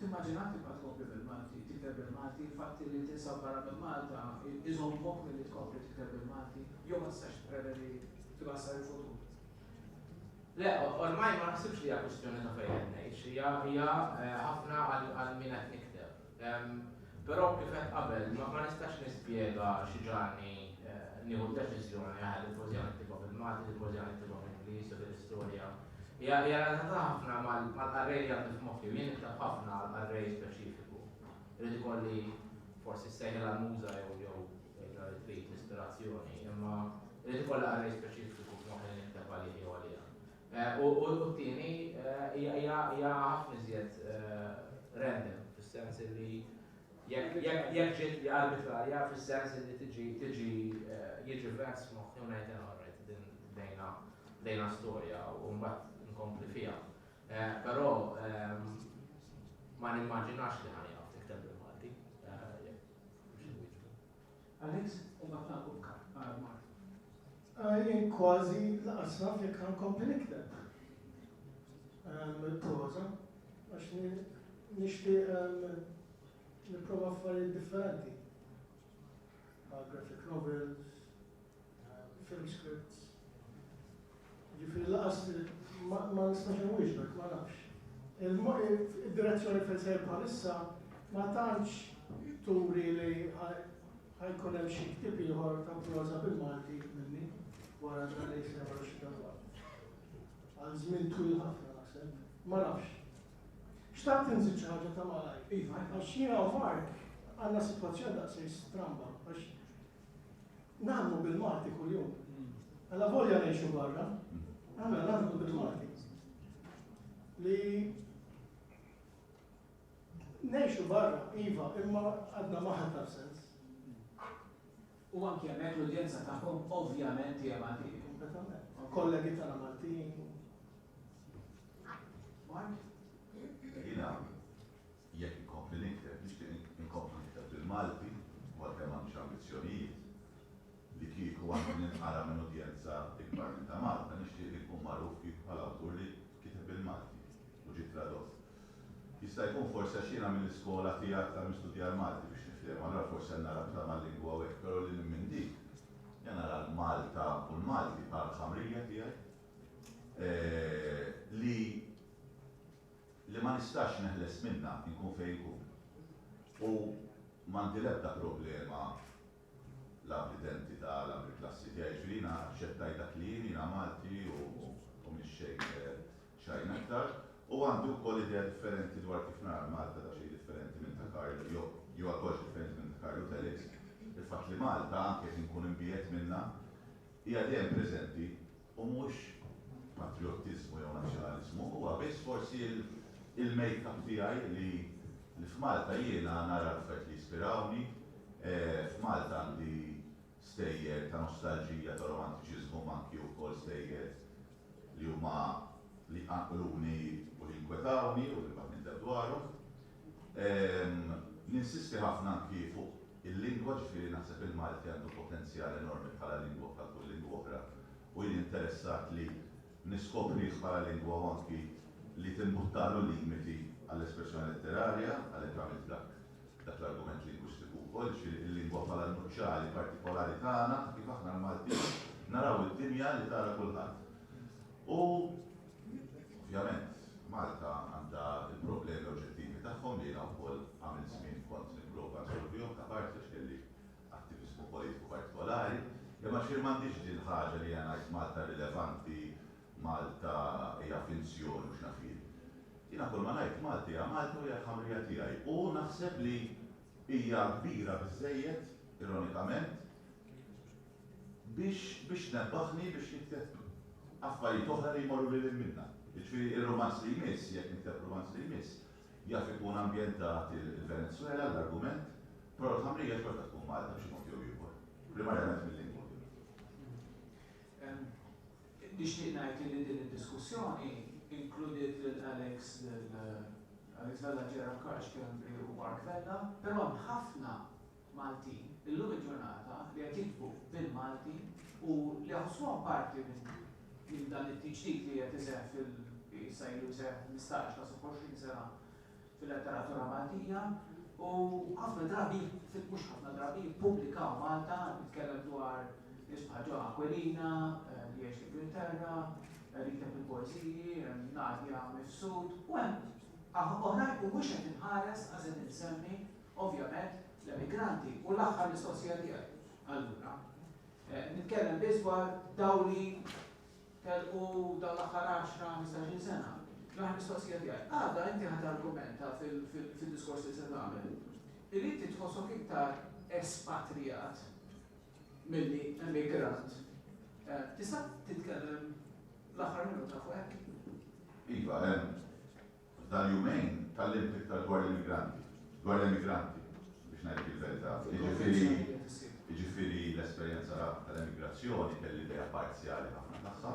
Timmaġina tibqa' tkompli bil-Malti, tikteb bil-Malti, il-fatt li tinsab barra minn Malta iżommok milli tkompli tikteb bil-Malti? Jew ma tistax tipprevedi kif ħa jsar il-futur? Le, ormai ma naħsibx li hija kwistjoni ta' fejn qed ngħix, hija ħafna għal min qed nikteb. Però kif għedt qabel, ma nistax nispjega xi ġagħalni nieħu d-deċiżjoni aħjar li l-poeżija niktibha bil-Malti, li l-poeżija niktibha bl-Ingliż u li l-istorja hija relatata ħafna mal-qarrej li għandi f'moħħi u jien nikteb ħafna għal qarrej speċifiku. Irid ikolli forsi ssejħilha l-muża jew jew tgħidilha li trid l-ispirazzjoni, imma irid ikollha qarrej speċifiku f'moħħi li nikteb għalih jew għaliha. U t-tieni hija ħafna iżjed random, fis-sens li jekk ġiet hija arbitrarja fis-sens li tiġi tiġi jiġi vent f'moħħi u ngħid all right din bdejna bdejna storja u mbagħad inkompli fiha. Però ma nimmaġinax li ħa nieqaf nikteb bil-Malti. Alex, u mbagħad nagħlqu b'kap, qal Mark. Ah, jien kważi lanqas naf jekk ħa nkompli nikteb. Ehm, il-proża, għax nixtieq ehm, nipprova affarijiet differenti. Għal graphic novels, Fake scripts. Jiġifieri lanqas ma nistax inwieġbek, ma nafx. Id-direzzjoni fejn sejjer bħalissa ma tantx turi li ħa jkun hemm xi ktieb ieħor ta' proża bil-Malti minni wara dan li jsir wara xi darba. Għal żmien twil ħafna naħseb. Ma nafx. Xtaqt inżid xi ħaġa ta' malajr. Iva, għax jiena u Mark għandna sitwazzjoni daqshekk stramba għax Naħdmu bil-Malti kuljum. Alla volja ngħixu barra, aħna naħdmu bil-Malti. Li ngħixu barra, iva, imma għadna maħad ta' sens. U anke hemmhekk l-udjenza tagħhom ovvjament hija Malti. Kollegi tagħna Maltin. Mark? Jina, Jekk inkompli nikteb, nixtieq inkompli nikteb bil-Malti u għalkemm m'għandix ambizzjonijiet li kieku għandi ninqara minn udjenza ikbar minn ta' Malta, nixtieq li nkun magħruf kieku bħala awtur li kiteb bil-Malti u ġie tradott. Jista' jkun forsi għax jiena mill-iskola tiegħek tal-mistudja l-Malti biex niftehmu, allura forsi għandna rabta mal-lingwa u hekk, però lil hinn minn dik, jien nara l-Malta u l-Malti bħala l-ħamrija tiegħi li, li ma nistax neħles minnha inkun fejn inkun u m'għandi l-ebda problema la bl-identità la bil-klassi tiegħi, jiġifieri jiena aċċettajt dak li jien, jiena Malti u m'iniex xejn xejn aktar. U għandi wkoll idea differenti dwar kif nara l-Malta daqsxejn differenti minn ta' Karl jew jew għal kollox differenti minn ta' Karl u Telix. Il-fatt li Malta, anke jekk inkun imbiegħed minnha, hija dejjem preżenti U mhux patriottiżmu jew nazzjonaliżmu, huwa biss forsi il-makeup tiegħi li f'Malta jiena nara l-affarijiet li jispirawni, f'Malta għandi stejjer ta' nostalġija, ta' romantiċiżmu imma anki wkoll stejjer li huma li jqanqluni u li jinkwetawni u li mbagħad nindeb dwarhom. Ninsisti ħafna anki fuq il-lingwa, ġifieri naħseb il-Malti għandu potenzjal enormi bħala lingwa bħal kull lingwa oħra u jien interessat li niskoprih bħala lingwa u anki li timbuttalu l-limiti għall-espressjoni letterarja, għalhekk għamilt dak l-argument lingwistiku wkoll, ġifieri il-lingwa bħala n-nuċċali partikolari tagħna ta' kif aħna l-Maltin naraw id-dinja li tara kulħadd. U Ovvjament, Malta għandha l-problemi oġġettivi tagħhom li jiena wkoll għamilt żmien kont nipprova nsolvihom ta' parti għax kelli attiviżmu politiku partikolari, imma xejn m'għandhiex din il-ħaġa li jiena ngħid Malta rilevanti, Malta hija finzjoni u x'naf jien. Jiena kull ma ngħid Malta hija Malta u hija l-ħamrija tiegħi u naħseb li hija kbira biżżejjed, ironikament, biex biex tnebbaħni biex nikteb affarijiet oħra li jmorru lil hinn minnha. Jiġifieri ir-rumanz li jmiss, jekk nikteb rumanz li jmiss, jaf ikun ambjentat il-Venezwela, l-argument, però l-ħamrija xorta tkun Malta b'xi mod jew ieħor, primarjament mil-lingwa ovvjament. Nixtieq ngħid illi din id-diskussjoni inkludiet lil Alex lil Alex Vella, Gerard Karl Schembri u Mark Vella, però hemm ħafna Maltin illum il-ġurnata li qed jiktbu bil-Malti u li jaħossuhom parti minn dan it-tiġdid li qed iseħħ fil, issa ilu jseħħ 15 kważi 20 sena, fil-letteratura Maltija u ħafna drabi, mhux ħafna drabi, jippubblikaw Malta, nitkellem dwar nies bħal John Aquilina li jgħix l-Ingilterra, li jikteb il-poeżiji, hemm Nadia Mifsud u hemm oħrajn u mhux qed inħares għax qed insemmi ovvjament l-emigranti u l-aħħar mistoqsija tiegħi allura. Nitkellem biss dwar dawk li telqu dawn l-aħħar għaxra, ħmistax-il sena. L-aħħar mistoqsija tiegħi. Għada inti ħadt argumenta fid-diskors li se tagħmel illi inti tħossok iktar espatrijat milli emigrant. Tista' titkellem l-aħħar minuta fuq hekk? Iva, hemm. F'dal-jumejn tgħallimt iktar dwar l-immigranti, dwar l-emigranti, biex ngħidlek il-verità. Jiġifieri, jiġifieri l-esperjenza tal-emigrazzjoni kelli idea parzjali ħafna tagħha.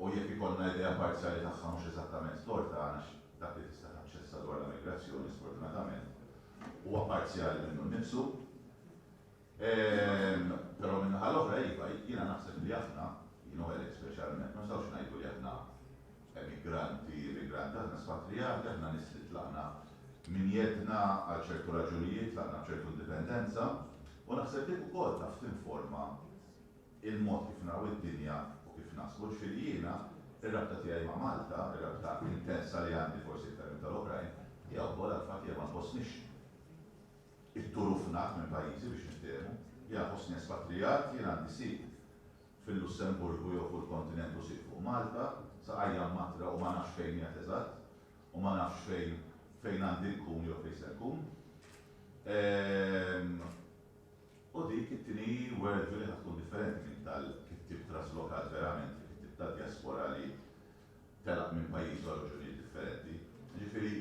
U jekk ikollna idea parzjali tagħha mhux eżattament storta għax dak li tista' taċċessa dwar l-emigrazzjoni sfortunatament huwa parzjali minnu nnifsu, Ehm, però min-naħa l-oħra iva, jiena naħseb li aħna, jien u Alex speċjalment, ma nistgħux ngħidu li aħna emigranti, immigranti, aħna spatrijati, aħna nies li tlaqna minn jeddna għal ċertu raġunijiet, tlaqna b'ċertu indipendenza, u naħseb dik ukoll taf tinforma il-mod kif naraw id-dinja u kif naħsbu. Ġifieri jiena, ir-rabta tiegħi ma' Malta, ir-rabta intensa li għandi forsi iktar minn tal-oħrajn, hija wkoll għall-fatt li ma nħossnix It-Tour hu fnat minn pajjiżi biex niftehmu. Jiena nħossni espatrijat, jien għandi sit fil-Lussemburgu jew fuq il-kontinent u sit fuq Malta, saqajja mmattra u ma nafx fejn qiegħed eżatt u ma nafx fejn fejn għandi nkun jew fejn se nkun. Ehm. U dik it-tieni world view li ħa tkun differenti minn tal-kittieb traslokat verament, il-kittieb tad-djaspora li telaq minn pajjiż għal raġunijiet differenti. Jiġifieri,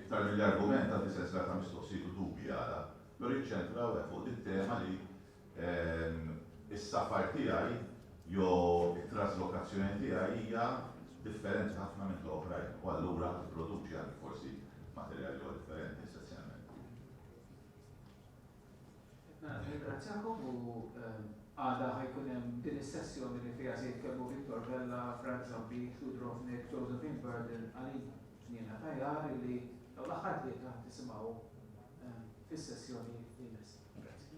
iktar milli argument tagħti sensiela ta' mistoqsijiet u dubji għala, però jiċċentraw hekk fuq dit-tema li s-safar tiegħi jew it-traslokazzjoni tiegħi hija differenti ħafna minn ta' oħrajn u allura tipproduċi anki forsi materjal li huwa differenti essenzjalment. Nirringrazzjakom u għada ħa jkun hemm din is-sessjoni li fiha se jitkellmu Victor Vella, Frank Zombi, Stu Drobnik, Josephine Burden, Aline Ġniena Tajar illi dawn l-aħħar tlieta ħa tisimgħu fis-sessjoni li jmiss. Grazzi.